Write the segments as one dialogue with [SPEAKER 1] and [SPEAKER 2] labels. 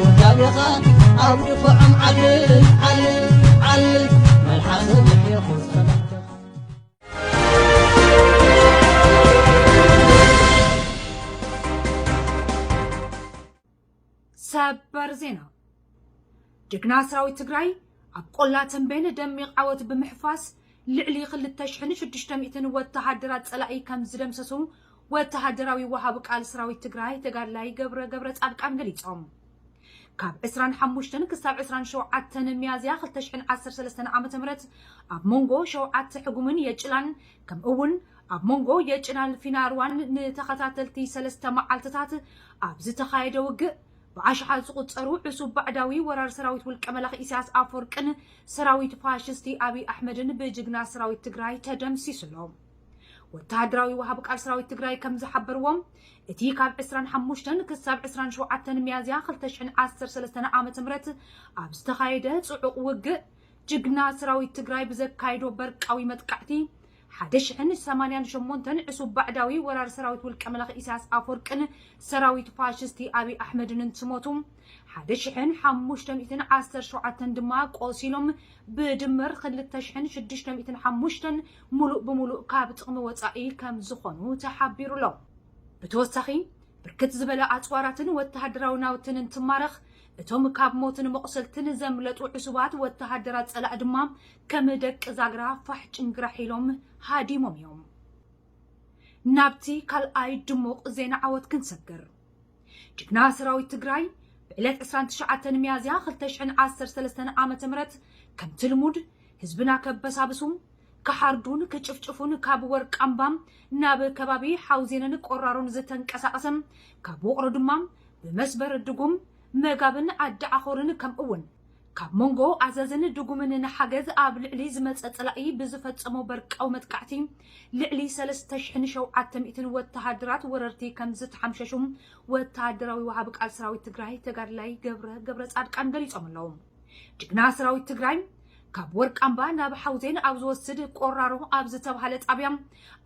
[SPEAKER 1] ውዳቤኻ ኣብ ድፋዖም ዓልል ዓልል ዓልል መልሓሰ ምሒኹ ጸላእትኻ
[SPEAKER 2] ሰበር ዜና ጅግና ሰራዊት ትግራይ ኣብ ቆላ ተምቤን ደሚቕ ዓወት ብምሕፋስ ልዕሊ ክልተ ሽሕን ሽዱሽተ ሚእትን ወተሃደራት ፀላኢ ከምዝደምሰሱ ወተሃደራዊ ወሃቢ ቃል ሰራዊት ትግራይ ተጋድላይ ገብረ ገብረፃድቃን ገሊፆም። ካብ ዕስራን ሓሙሽተን ክሳብ ዕስራን ሸውዓተን ሚያዝያ ክልተ ሽሕን ዓሰርተ ሰለስተን ዓመተ ምህረት ኣብ ሞንጎ ሸውዓተ ሕጉምን የጭላን ከምኡ እውን ኣብ ሞንጎ የጭላን ፊናርዋን ንተኸታተልቲ ሰለስተ መዓልትታት ኣብ ዝተኻየደ ውግእ ብኣሽሓት ዝቑጸሩ ዕሱብ ባዕዳዊ ወራር ሰራዊት ውልቀ መላኺ ኢሳያስ ኣፈወርቅን ሰራዊት ፋሽስቲ ኣብይ ኣሕመድን ብጅግና ሰራዊት ትግራይ ተደምሲሱ ኣሎ። ወተሃደራዊ ወሃቢ ቃል ሰራዊት ትግራይ ከም ዝሓበርዎ እቲ ካብ 25 ክሳብ 27 ሚያዝያ 2013 ዓ ም ኣብ ዝተኻየደ ጽዑቕ ውግእ ጅግና ሰራዊት ትግራይ ብዘካየዶ በርቃዊ መጥቃዕቲ ሓደ ሽሕን ሰማንያን ሸሞንተን ዕሱብ ባዕዳዊ ወራሪ ሰራዊት ውልቀ መላኺ ኢሳያስ ኣፎርቅን ሰራዊት ፋሽስቲ ኣብይ ኣሕመድን እንትሞቱ ሓደ ሽሕን ሓሙሽተ ሚእትን ዓሰርተ ሸውዓተን ድማ ቆሲሎም ብድምር ክልተ ሽሕን ሽዱሽተ ሚእትን ሓሙሽተን ሙሉእ ብሙሉእ ካብ ጥቕሚ ወፃኢ ከምዝኾኑ ተሓቢሩ ኣሎ። ብተወሳኺ ብርክት ዝበለ ኣፅዋራትን ወተሃደራዊ ናውትን እንትማረኽ እቶም ካብ ሞትን መቑሰልትን ዘምለጡ ዕሱባት ወተሃደራት ፀላኢ ድማ ከም ደቂ ዛግራ ፋሕ ጭንግራሕ ኢሎም ሃዲሞም እዮም። ናብቲ ካልኣይ ድሙቕ ዜና ዓወት ክንሰግር። ጅግና ሰራዊት ትግራይ ብዕለት 29 ሚያዝያ 2013 ዓ.ም ከምቲ ልሙድ ህዝብና ከበሳብሱ ክሓርዱን ክጭፍጭፉን ካብ ወርቃምባ ናብ ከባቢ ሓውዜንን ቆራሮን ዝተንቀሳቐሰ ካብ ውቕሮ ድማ ብመስበር ድጉም መጋብን ዓዲ ዓኾርን ከምኡውን ካብ መንጎ ኣዘዝን ድጉምን ንሓገዝ ኣብ ልዕሊ ዝመጸ ጸላኢ ብዝፈጸሞ በርቃዊ መጥቃዕቲ ልዕሊ ሰለስተ ሽሕን ሸውዓተ ሚእትን ወተሃደራት ወረርቲ ከም ዝተሓምሸሹ ወተሃደራዊ ወሃቢ ቃል ሰራዊት ትግራይ ተጋድላይ ገብረ ገብረጻድቃን ገሊጾም ኣለዉ። ጅግና ሰራዊት ትግራይ ካብ ወርቃምባ ናብ ሓውዜን ኣብ ዝወስድ ቆራሮ ኣብ ዝተብሃለ ጣብያ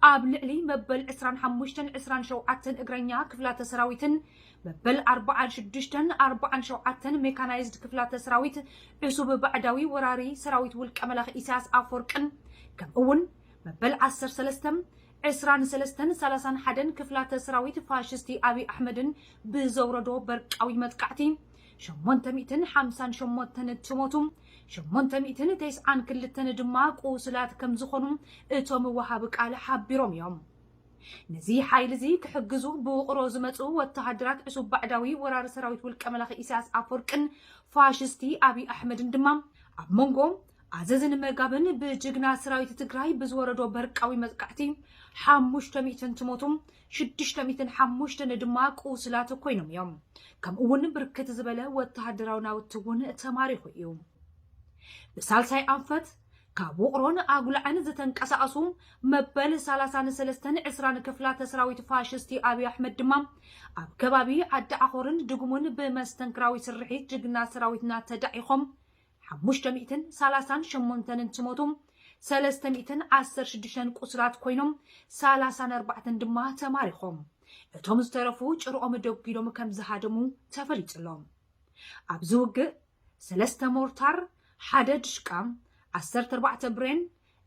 [SPEAKER 2] ኣብ ልዕሊ መበል ዕስራን ሓሙሽተን ዕስራን ሸውዓተን እግረኛ ክፍላተ ሰራዊትን መበል ኣርብዓን ሽዱሽተን ኣርብዓን ሸውዓተን ሜካናይዝድ ክፍላተ ሰራዊት ዕሱብ ባዕዳዊ ወራሪ ሰራዊት ውልቀ መላኺ ኢሳያስ ኣፈወርቅን ከምኡ'ውን መበል ዓሰርተ ሰለስተ ዕስራን ሰለስተን ሰላሳን ሓደን ክፍላተ ሰራዊት ፋሽስቲ ኣብይ ኣሕመድን ብዘውረዶ በርቃዊ መጥቃዕቲ ሸሞንተ ሚእትን ሓምሳን ሸሞንተን እትሞቱ ሸሞንተ ሚእትን ተስዓን ክልተን ድማ ቁስላት ከምዝኾኑ እቶም ወሃቢ ቃል ሓቢሮም እዮም። ነዚ ሓይሊ'ዚ ክሕግዙ ብውቕሮ ዝመጽኡ ወተሃደራት ዕሱብ ባዕዳዊ ወራሪ ሰራዊት ውልቀ መላኺ ኢሳያስ ኣፍወርቅን ፋሽስቲ ኣብይ ኣሕመድን ድማ ኣብ መንጎ ኣዘዝን መጋብን ብጅግና ሰራዊት ትግራይ ብዝወረዶ በርቃዊ መጥቃዕቲ ሓሙሽተ ሚእትን ትሞቱ ሽዱሽተ ሚእትን ሓሙሽተን ድማ ቁስላት ኮይኖም እዮም። ከምኡ እውን ብርክት ዝበለ ወተሃደራዊ ናውቲ እውን ተማሪኹ እዩ። ብሳልሳይ ኣንፈት ካብ ውቕሮን ኣጉላዕን ዝተንቀሳቐሱ መበል ሰላሳን ሰለስተን ዕስራን ክፍላተ ሰራዊት ፋሽስቲ ኣብይ ኣሕመድ ድማ ኣብ ከባቢ ዓዲ ዓኾርን ድጉሙን ብመስተንክራዊ ስርሒት ጅግና ሰራዊትና ተዳዒኾም ሓሙሽተ ሚእትን ሰላሳን ሸሞንተን እንትሞቱ ሰለስተ ሚእትን ዓሰርተ ሽዱሽተን ቁስላት ኮይኖም ሰላሳን ኣርባዕተን ድማ ተማሪኾም እቶም ዝተረፉ ጭርኦም ደጒሎም ከም ዝሃደሙ ተፈሊጡ ኣሎ። ኣብዚ ውግእ ሰለስተ ሞርታር፣ ሓደ ድሽቃ፣ ዓሰርተ ኣርባዕተ ብሬን፣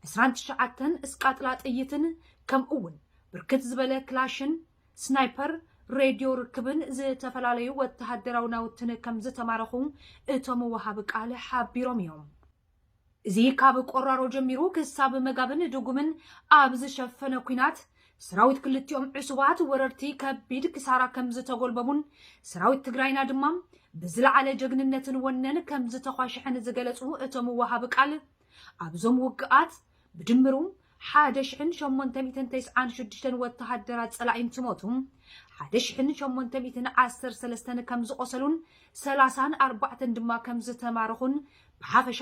[SPEAKER 2] ዕስራን ትሽዓተን እስቃጥላ ጥይትን ከምኡ'ውን ብርክት ዝበለ ክላሽን፣ ስናይፐር፣ ሬድዮ ርክብን ዝተፈላለዩ ወተሃደራዊ ናውትን ከምዝተማረኹ እቶም ወሃቢ ቃል ሓቢሮም እዮም። እዚ ካብ ቆራሮ ጀሚሩ ክሳብ መጋብን ድጉምን ኣብ ዝሸፈነ ኲናት፣ ሰራዊት ክልቲኦም ዕሱባት ወረርቲ ከቢድ ክሳራ ከምዝተጎልበቡን ሰራዊት ትግራይና ድማ ብዝለዓለ ጀግንነትን ወነን ከምዝተዃሸሐን ዝገለፁ እቶም ወሃቢ ቃል፣ ኣብዞም ውግኣት ብድምሩ ሓደ ሽሕን ሸሞንተ ሚእትን ተስዓን ሽዱሽተን ወተሃደራት ጸላኢ እንትሞቱ፣ ሓደ ሽሕን ሸሞንተ ሚእትን ዓሰርተ ሰለስተን ከም ዝቖሰሉን ሰላሳን ኣርባዕተን ድማ ከም ዝተማረኹን ብሓፈሻ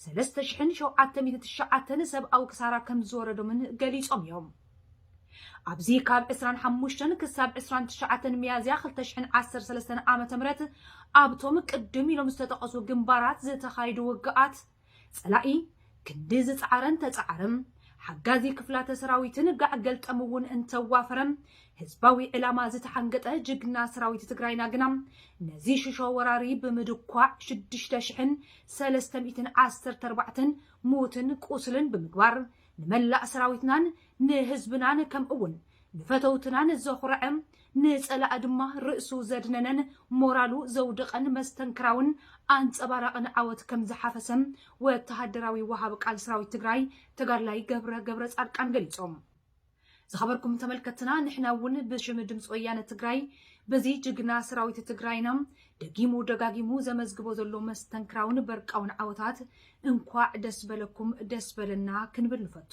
[SPEAKER 2] ሰለስተ ሽሕን ሸውዓተ ሚእትን ትሽዓተን ሰብኣዊ ክሳራ ከም ዝወረዶምን ገሊጾም እዮም። ኣብዚ ካብ ዕስራን ሓሙሽተን ክሳብ ዕስራን ትሽዓተን ሚያዝያ ክልተ ሽሕን ዓሰርተ ሰለስተን ዓመተ ምህረት ኣብቶም ቅድም ኢሎም ዝተጠቐሱ ግንባራት ዝተኻየዱ ውግኣት ጸላኢ ክንዲ ዝጸዓረን ተጸዓረም፣ ሓጋዚ ክፍላተ ሰራዊትን ጋዕ ገልጠም'ውን እንተዋፈረ፣ ህዝባዊ ዕላማ ዝተሓንገጠ ጅግና ሰራዊት ትግራይና ግና፣ ነዚ ሽሾ ወራሪ ብምድኳዕ ሽዱሽተ ሽሕን ሰለስተ ሚእትን ዓሰርተ ኣርባዕተን ሙትን ቁስልን ብምግባር፣ ንመላእ ሰራዊትናን ንህዝብናን ከምኡ'ውን ንፈተውትናን ዘኹረዐ ንጸላኢ ድማ ርእሱ ዘድነነን ሞራሉ ዘውድቐን መስተንክራውን ኣንጸባራቕን ዓወት ከም ዝሓፈሰ ወተሃደራዊ ወሃቢ ቃል ሰራዊት ትግራይ ተጋድላይ ገብረ ገብረጻድቃን ገሊጾም። ዝኸበርኩም ተመልከትትና ንሕና እውን ብሽም ድምፂ ወያነ ትግራይ በዚ ጅግና ሰራዊት ትግራይና ደጊሙ ደጋጊሙ ዘመዝግቦ ዘሎ መስተንክራውን በርቃውን ዓወታት እንኳዕ ደስ በለኩም ደስ በለና ክንብል ንፈቱ።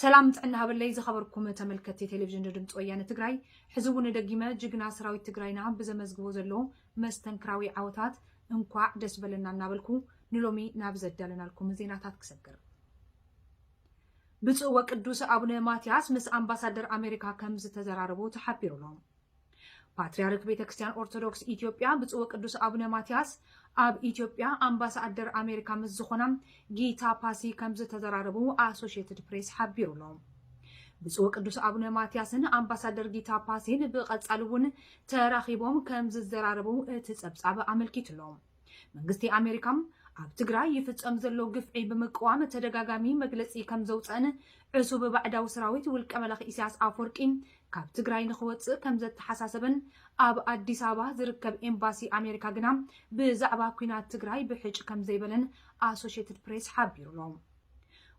[SPEAKER 2] ሰላም ጥዕና ሃበለይ ዝኸበርኩም ተመልከቲ ቴሌቪዥን ዶ ድምፂ ወያነ ትግራይ ሕዚ እውን ደጊመ ጅግና ሰራዊት ትግራይና ብዘመዝግቦ ዘሎ መስተንክራዊ ዓወታት እንኳዕ ደስ በለና እናበልኩ ንሎሚ ናብ ዘዳለናልኩም ዜናታት ክሰግር ብፁዕ ወቅዱስ ኣቡነ ማትያስ ምስ ኣምባሳደር ኣሜሪካ ከም ዝተዘራረቡ ተሓቢሩ ኣሎ ፓትርያርክ ቤተ ክርስቲያን ኦርቶዶክስ ኢትዮጵያ ብፁዕ ወቅዱስ ኣቡነ ማትያስ ኣብ ኢትዮጵያ ኣምባሳደር ኣሜሪካ ምስ ዝኾና ጊታ ፓሲ ከም ዝተዘራረቡ ኣሶሽየትድ ፕሬስ ሓቢሩ ኣሎ። ብፁዕ ወቅዱስ ኣቡነ ማትያስን ኣምባሳደር ጊታ ፓሲን ብቐጻሊ እውን ተራኺቦም ከም ዝዘራረቡ እቲ ጸብጻብ ኣመልኪቱ ኣሎ። መንግስቲ ኣሜሪካ ኣብ ትግራይ ይፍጸም ዘሎ ግፍዒ ብምቅዋም ተደጋጋሚ መግለጺ ከም ዘውፀእን ዕሱብ ባዕዳዊ ሰራዊት ውልቀ መላኺ ኢሳያስ ኣፈወርቂ ካብ ትግራይ ንክወፅእ ከም ዘተሓሳሰበን ኣብ ኣዲስ ኣበባ ዝርከብ ኤምባሲ ኣሜሪካ ግና ብዛዕባ ኩናት ትግራይ ብሕጭ ከም ዘይበለን ኣሶሽትድ ፕሬስ ሓቢሩ ኣሎ።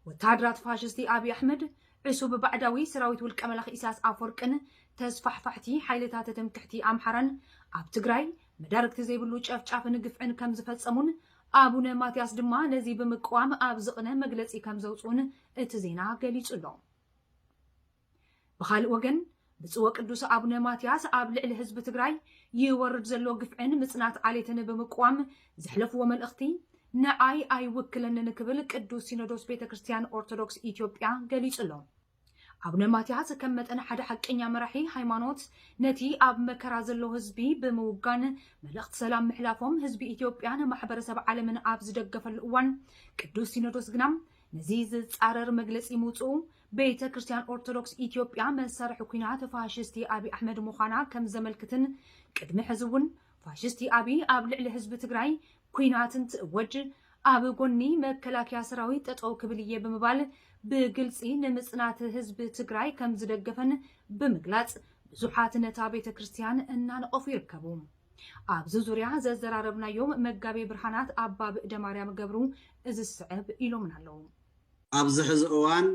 [SPEAKER 2] ወተሃደራት ፋሽስቲ ኣብዪ ኣሕመድ ዕሱብ ባዕዳዊ ሰራዊት ውልቀ መላኺ ኢሳያስ ኣፈወርቅን ተስፋሕፋሕቲ ሓይልታት ትምክሕቲ ኣምሓራን ኣብ ትግራይ መዳርግቲ ዘይብሉ ጨፍጫፍን ግፍዕን ከም ዝፈጸሙን ኣቡነ ማትያስ ድማ ነዚ ብምቅዋም ኣብ ዝቕነ መግለጺ ከም ዘውጽኡን እቲ ዜና ገሊጹ ኣሎ። ብኻልእ ወገን ብፁዕ ወቅዱስ ኣቡነ ማትያስ ኣብ ልዕሊ ህዝቢ ትግራይ ይወርድ ዘሎ ግፍዕን ምጽናት ዓሌትን ብምቅዋም ዘሕለፍዎ መልእኽቲ ንዓይ ኣይውክለንን ክብል ቅዱስ ሲኖዶስ ቤተ ክርስቲያን ኦርቶዶክስ ኢትዮጵያ ገሊጹ ኣሎ። ኣቡነ ማትያስ ከም መጠን ሓደ ሓቀኛ መራሒ ሃይማኖት ነቲ ኣብ መከራ ዘሎ ህዝቢ ብምውጋን መልእኽቲ ሰላም ምሕላፎም ህዝቢ ኢትዮጵያን ማሕበረሰብ ዓለምን ኣብ ዝደገፈሉ እዋን ቅዱስ ሲኖዶስ ግና ነዚ ዝጻረር መግለጺ ምውጽኡ ቤተ ክርስቲያን ኦርቶዶክስ ኢትዮጵያ መሳርሒ ኩናት ፋሽስቲ ኣቢ ኣሕመድ ምዃና ከም ዘመልክትን ቅድሚ ሕዚ እውን ፋሽስቲ ኣቢ ኣብ ልዕሊ ህዝቢ ትግራይ ኲናት እንትእወጅ ኣብ ጎኒ መከላከያ ሰራዊት ጠጠው ክብል እየ ብምባል ብግልፂ ንምፅናት ህዝቢ ትግራይ ከምዝደገፈን ብምግላፅ ብዙሓት ነታ ቤተ ክርስትያን እናነቐፉ ይርከቡ። ኣብዚ ዙርያ ዘዘራረብናዮም መጋቤ ብርሃናት ኣባ ብእደማርያም ገብሩ እዚ ዝስዕብ ኢሎምና ኣለው። ኣብዚ ሕዚ
[SPEAKER 3] እዋን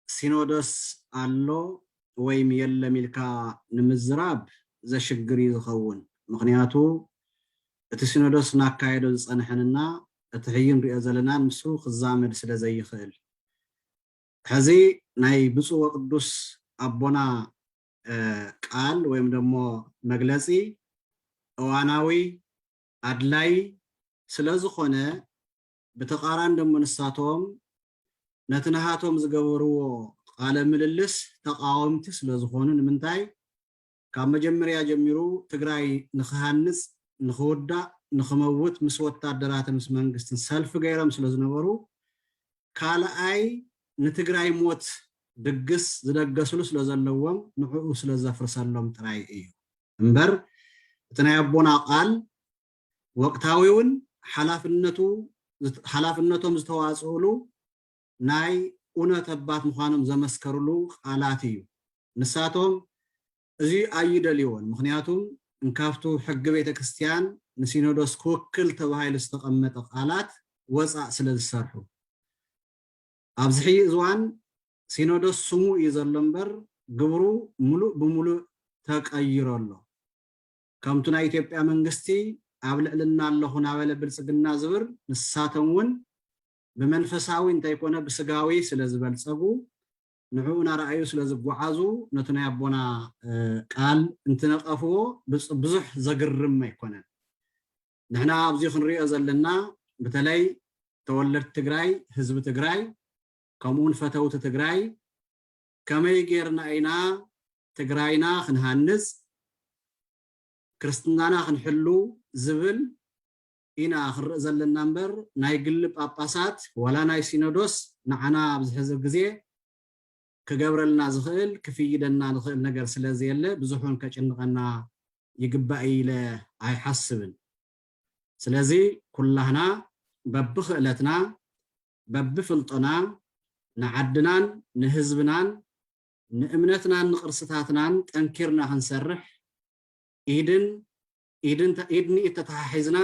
[SPEAKER 3] ሲኖዶስ ኣሎ ወይም የለም ኢልካ ንምዝራብ ዘሽግር እዩ ዝኸውን። ምኽንያቱ እቲ ሲኖዶስ ናካየዶ ዝጸንሐን እና እቲ ሕይ ንሪኦ ዘለናን ምስኡ ክዛመድ ስለ ዘይኽእል። ሕዚ ናይ ብፁዕ ወቅዱስ ኣቦና ቃል ወይም ደሞ መግለጺ እዋናዊ ኣድላይ ስለ ዝኾነ ብተቃራኒ ደሞ ንሳቶም ነቲ ናሃቶም ዝገበርዎ ቃለ ምልልስ ተቃወምቲ ስለ ዝኾኑ ንምንታይ ካብ መጀምርያ ጀሚሩ ትግራይ ንኽሃንፅ ንኽውዳእ ንኽመውት ምስ ወታደራትን ምስ መንግስትን ሰልፊ ገይሮም ስለ ዝነበሩ ካልኣይ ንትግራይ ሞት ድግስ ዝደገስሉ ስለ ዘለዎም ንዑኡ ስለ ዘፍርሰሎም ጥራይ እዩ እምበር እቲ ናይ ኣቦና ቃል ወቅታዊውን ሓላፍነቱ ሓላፍነቶም ዝተዋፅኡሉ ናይ ኡነት ኣባት ምዃኖም ዘመስከሩሉ ቃላት እዩ። ንሳቶም እዚ ኣይደልዎን ምክንያቱም እንካብቱ ሕጊ ቤተ ክርስቲያን ንሲኖዶስ ክውክል ተባሂሉ ዝተቐመጠ ቃላት ወፃእ ስለ ዝሰርሑ ኣብዚ ሕይ እዝዋን ሲኖዶስ ስሙ እዩ ዘሎ እምበር ግብሩ ሙሉእ ብሙሉእ ተቀይሮ ኣሎ። ከምቱ ናይ ኢትዮጵያ መንግስቲ ኣብ ልዕልና ኣለኹ ናበለ ብልፅግና ዝብር ንሳቶም ውን ብመንፈሳዊ እንተይኮነ ብስጋዊ ስለዝበልፀጉ ንዑኡ ናረኣዩ ስለዝጓዓዙ ነቱ ናይ ኣቦና ቃል እንትነቀፍዎ ብዙሕ ዘግርም ኣይኮነን ንሕና ኣብዚ ክንሪኦ ዘለና ብተለይ ተወለድቲ ትግራይ ህዝቢ ትግራይ ከምኡውን ፈተውቲ ትግራይ ከመይ ገይርና ኢና ትግራይና ክንሃንፅ ክርስትናና ክንሕሉ ዝብል ኢና ክንርኢ ዘለና እምበር ናይ ግሊ ጳጳሳት ዋላ ናይ ሲኖዶስ ንዓና ኣብዚ ሕዚ ግዜ ክገብረልና ዝኽእል ክፍይደና ዝኽእል ነገር ስለ ዘየለ ብዙሑን ከጭንቐና ይግባእ እዩ ኢለ ኣይሓስብን። ስለዚ ኩላህና በብኽእለትና በብፍልጦና ንዓድናን ንህዝብናን ንእምነትናን ንቅርስታትናን ጠንኪርና ክንሰርሕ ኢድን ኢድ ንኢድ ተተሓሒዝና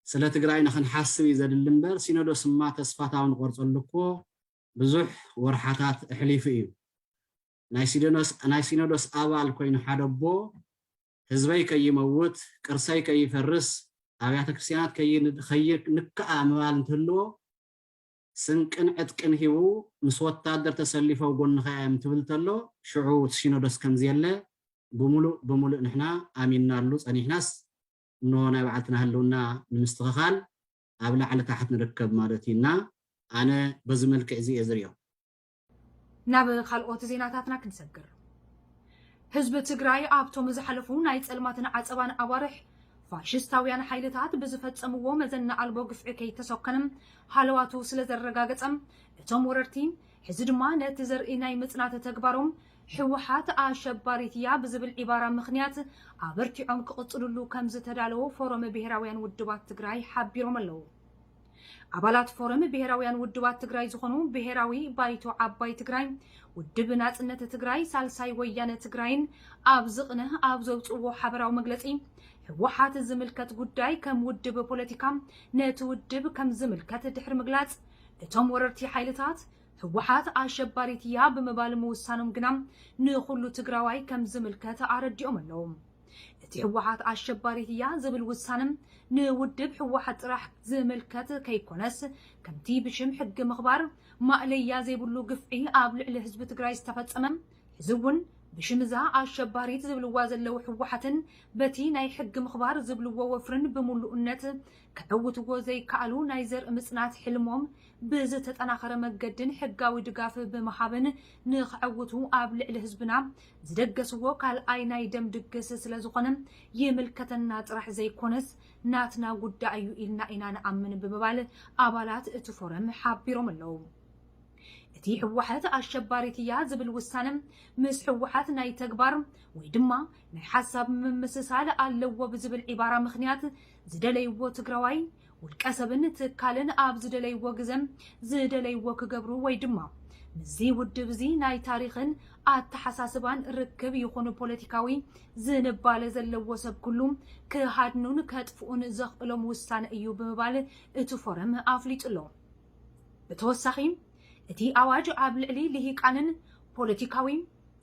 [SPEAKER 3] ስለ ትግራይና ክንሓስብ እዩ ዘድሊ እምበር ሲኖዶስ እማ ተስፋታዊ ንቆርፀሉ እኮ ብዙሕ ወርሓታት እሕሊፉ እዩ። ናይ ሲኖዶስ ኣባል ኮይኑ ሓደ ኣቦ ህዝበይ ከይመውት፣ ቅርሰይ ከይፈርስ፣ ኣብያተ ክርስትያናት ከይንከኣ ምባል እንትህልዎ ስንቅን ዕጥቅን ሂቡ ምስ ወታደር ተሰሊፉ ኣብ ጎንኻ እየ እንትብል ተሎ ሽዑ እቲ ሲኖዶስ ከምዘየለ ብሙሉእ ብሙሉእ ንሕና ኣሚንናሉ ጸኒሕናስ እነሆ ናይ ባዕልትና ህልውና ንምስትኽኻል ኣብ ላዕሊ ታሕት ንርከብ ማለት እዩ እና ኣነ በዚ መልክዕ እዚ እየ ዝሪኦ።
[SPEAKER 2] ናብ ካልኦት ዜናታትና ክንሰግር ህዝቢ ትግራይ ኣብቶም ዝሓለፉ ናይ ጸልማትን ዓጸባን ኣዋርሕ ፋሽስታውያን ሓይልታት ብዝፈጸምዎ መዘና ኣልቦ ግፍዒ ከይተሰከንም ሃለዋቱ ስለ ዘረጋገጸ እቶም ወረርቲ ሕዚ ድማ ነቲ ዘርኢ ናይ ምጽናት ተግባሮም ሕወሓት ኣሸባሪት እያ ብዝብል ዒባራ ምክንያት ኣበርቲዖም ክቕጽልሉ ከም ዝተዳለዎ ፎረም ብሄራውያን ውድባት ትግራይ ሓቢሮም ኣለዉ። ኣባላት ፎረም ብሄራውያን ውድባት ትግራይ ዝኾኑ ብሄራዊ ባይቶ ዓባይ ትግራይ፣ ውድብ ናፅነት ትግራይ፣ ሳልሳይ ወያነ ትግራይን ኣብ ዝቕነ ኣብ ዘውፅእዎ ሓበራዊ መግለፂ ህወሓት ዝምልከት ጉዳይ ከም ውድብ ፖለቲካ ነቲ ውድብ ከም ዝምልከት ድሕሪ ምግላፅ እቶም ወረርቲ ሓይልታት ህወሓት ኣሸባሪት እያ ብምባል ምውሳኖም ግና ንኹሉ ትግራዋይ ከም ዝምልከት ኣረዲኦም ኣለው። እቲ ህወሓት ኣሸባሪት እያ ዝብል ውሳነ ንውድብ ህወሓት ጥራሕ ዝምልከት ከይኮነስ ከምቲ ብሽም ሕጊ ምኽባር ማእለያ ዘይብሉ ግፍዒ ኣብ ልዕሊ ህዝቢ ትግራይ ዝተፈፀመ ሕዚ እውን ብሽም እዛ ኣሸባሪት ዝብልዋ ዘለው ህወሓትን በቲ ናይ ሕጊ ምኽባር ዝብልዎ ወፍርን ብምሉእነት ከዕውትዎ ዘይከኣሉ ናይ ዘርኢ ምፅናት ሕልሞም ብዝተጠናኸረ መገድን ሕጋዊ ድጋፍ ብምሃብን ንኸዕውቱ ኣብ ልዕሊ ህዝብና ዝደገስዎ ካልኣይ ናይ ደም ድግስ ስለዝኾነ ይምልከተና ጥራሕ ዘይኮነስ ናትና ጉዳይ እዩ ኢልና ኢና ንኣምን ብምባል ኣባላት እቲ ፎረም ሓቢሮም ኣለው። እቲ ህወሓት ኣሸባሪት እያ ዝብል ውሳነ ምስ ህወሓት ናይ ተግባር ወይ ድማ ናይ ሓሳብ ምምስሳል ኣለዎ ብዝብል ዒባራ ምኽንያት ዝደለይዎ ትግራዋይ ውልቀ ሰብን ትካልን ኣብ ዝደለይዎ ግዘ ዝደለይዎ ክገብሩ ወይ ድማ ምስዚ ውድብ እዚ ናይ ታሪኽን ኣተሓሳስባን ርክብ ይኹን ፖለቲካዊ ዝንባለ ዘለዎ ሰብ ኩሉ ክሃድኑን ከጥፍኡን ዘኽእሎም ውሳነ እዩ ብምባል እቲ ፎረም ኣፍሊጡ ኣሎ። ብተወሳኺ እቲ ኣዋጅ ኣብ ልዕሊ ልሂቃንን ፖለቲካዊ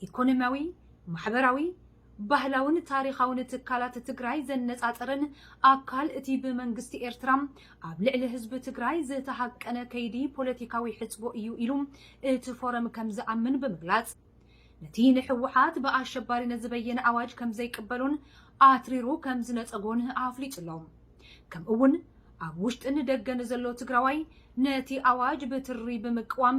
[SPEAKER 2] ኢኮኖሚያዊ፣ ማሕበራዊ፣ ባህላውን ታሪኻውን ትካላት ትግራይ ዘነፃፅርን ኣካል እቲ ብመንግስቲ ኤርትራ ኣብ ልዕሊ ህዝቢ ትግራይ ዝተሃቀነ ከይዲ ፖለቲካዊ ሕፅቦ እዩ ኢሉ እቲ ፎረም ከምዝኣምን ብምግላፅ ነቲ ንህወሓት ብኣሸባሪነት ዝበየነ ኣዋጅ ከምዘይቅበሎን ኣትሪሩ ከምዝነፀጎን ኣፍሊጡ ኣሎ። ከምኡ'ውን ኣብ ውሽጥን ደገን ዘሎ ትግራዋይ ነቲ ኣዋጅ ብትሪ ብምቅዋም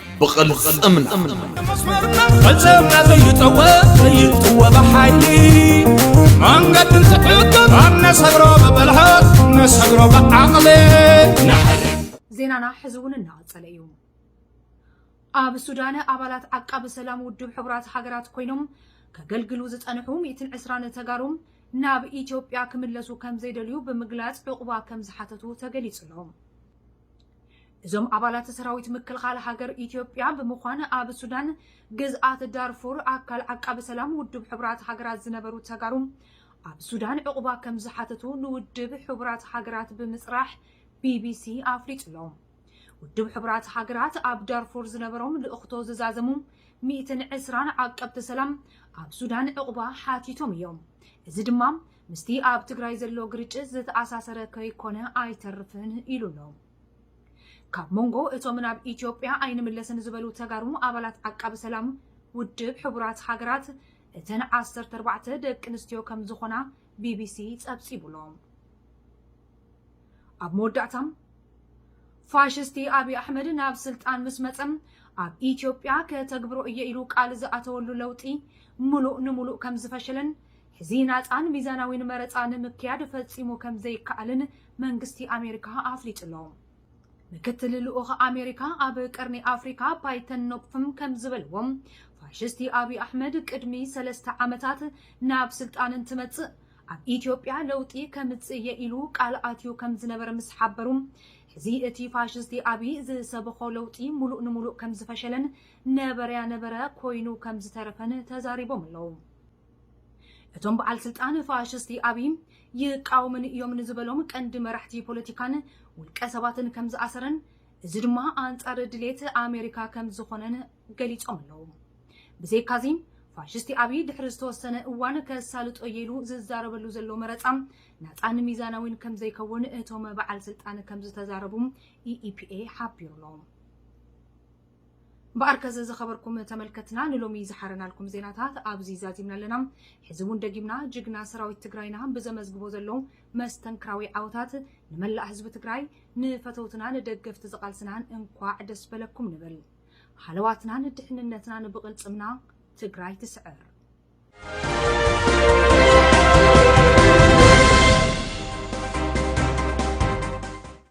[SPEAKER 4] ብቕልፅምና ፈፀምና ዘይጠወ ዘይጥወ ብሓይሊ መንገዲ እንትሕግር ኣብ ነሰግሮ ብብልሃት ነሰግሮ ብዓቕሊ
[SPEAKER 2] ዜናና ሕዚ እውን እናቐፀለ እዩ ኣብ ሱዳን ኣባላት ዓቃቢ ሰላም ውድብ ሕቡራት ሃገራት ኮይኖም ከገልግሉ ዝፀንሑ 120 ተጋሩ ናብ ኢትዮጵያ ክምለሱ ከም ዘይደልዩ ብምግላፅ ዕቑባ ከም ዝሓተቱ ተገሊፁ ኣሎ እዞም ኣባላት ሰራዊት ምክልኻል ሃገር ኢትዮጵያ ብምዃን ኣብ ሱዳን ግዝኣት ዳርፉር ኣካል ዓቃቢ ሰላም ውድብ ሕቡራት ሃገራት ዝነበሩ ተጋሩ ኣብ ሱዳን ዕቑባ ከም ዝሓተቱ ንውድብ ሕቡራት ሃገራት ብምፅራሕ ቢቢሲ ኣፍሊጡ ኣሎ። ውድብ ሕቡራት ሃገራት ኣብ ዳርፉር ዝነበሮም ልእኽቶ ዝዛዘሙ ሚእትን ዕስራን ዓቀብቲ ሰላም ኣብ ሱዳን ዕቑባ ሓቲቶም እዮም። እዚ ድማ ምስቲ ኣብ ትግራይ ዘሎ ግርጭት ዝተኣሳሰረ ከይኮነ ኣይተርፍን ኢሉ ኣሎ። ካብ መንጎ እቶም ናብ ኢትዮጵያ ኣይንምለስን ዝበሉ ተጋሩ ኣባላት ዓቃቢ ሰላም ውድብ ሕቡራት ሃገራት እተን ዓሰርተ ኣርባዕተ ደቂ ኣንስትዮ ከም ዝኾና ቢቢሲ ጸብጺቡ ኣሎ። ኣብ መወዳእታ ፋሽስቲ ኣብዪ ኣሕመድ ናብ ስልጣን ምስ መጸ ኣብ ኢትዮጵያ ከተግብሮ እየ ኢሉ ቃል ዝኣተወሉ ለውጢ ምሉእ ንምሉእ ከም ዝፈሸለን ሕዚ ናጻን ሚዛናዊን መረጻ ንምክያድ ፈጺሙ ከም ዘይከኣልን መንግስቲ ኣሜሪካ ኣፍሊጡ ኣሎ። ምክትል ልኡኽ ኣሜሪካ ኣብ ቀርኒ ኣፍሪካ ፓይተን ኖፕፍም ከም ዝበልዎ፣ ፋሽስቲ ኣብይ ኣሕመድ ቅድሚ ሰለስተ ዓመታት ናብ ስልጣን እንትመጽእ ኣብ ኢትዮጵያ ለውጢ ከምጽእ እየ ኢሉ ቃል ኣትዩ ከም ዝነበረ ምስ ሓበሩ ሕዚ እቲ ፋሽስቲ ኣብይ ዝሰበኾ ለውጢ ሙሉእ ንሙሉእ ከም ዝፈሸለን ነበረያ ነበረ ኮይኑ ከም ዝተረፈን ተዛሪቦም ኣለዉ። እቶም በዓል ስልጣን ፋሽስቲ ኣብይ ይቃወሙኒ እዮም ንዝበሎም ቀንዲ መራሕቲ ፖለቲካን ውልቀ ሰባትን ከም ዝኣሰረን እዚ ድማ ኣንጻር ድሌት ኣሜሪካ ከም ዝኾነን ገሊጾም ኣለዉ። ብዘይካዚ ፋሽስቲ ኣብይ ድሕሪ ዝተወሰነ እዋን ከሳልጦ እየ ኢሉ ዝዛረበሉ ዘሎ መረጻ ናጻን ሚዛናዊን ከም ዘይከውን እቶም በዓል ስልጣን ከም ዝተዛረቡ ኢኢፒኤ ሓቢሩ ኣሎ። እምበኣር ከስ ዝኸበርኩም ተመልከትና ንሎሚ ዝሓረናልኩም ዜናታት ኣብዚ ዛዚምና ኣለና። ሕዚ እውን ደጊምና ጅግና ሰራዊት ትግራይና ብዘመዝግቦ ዘሎ መስተንክራዊ ዓወታት ንመላእ ህዝቢ ትግራይ ንፈተውትና ንደገፍቲ ዝቓልስናን እንኳዕ ደስ በለኩም ንብል። ሃለዋትናን ድሕንነትናን ብቕልፅምና ትግራይ ትስዕር።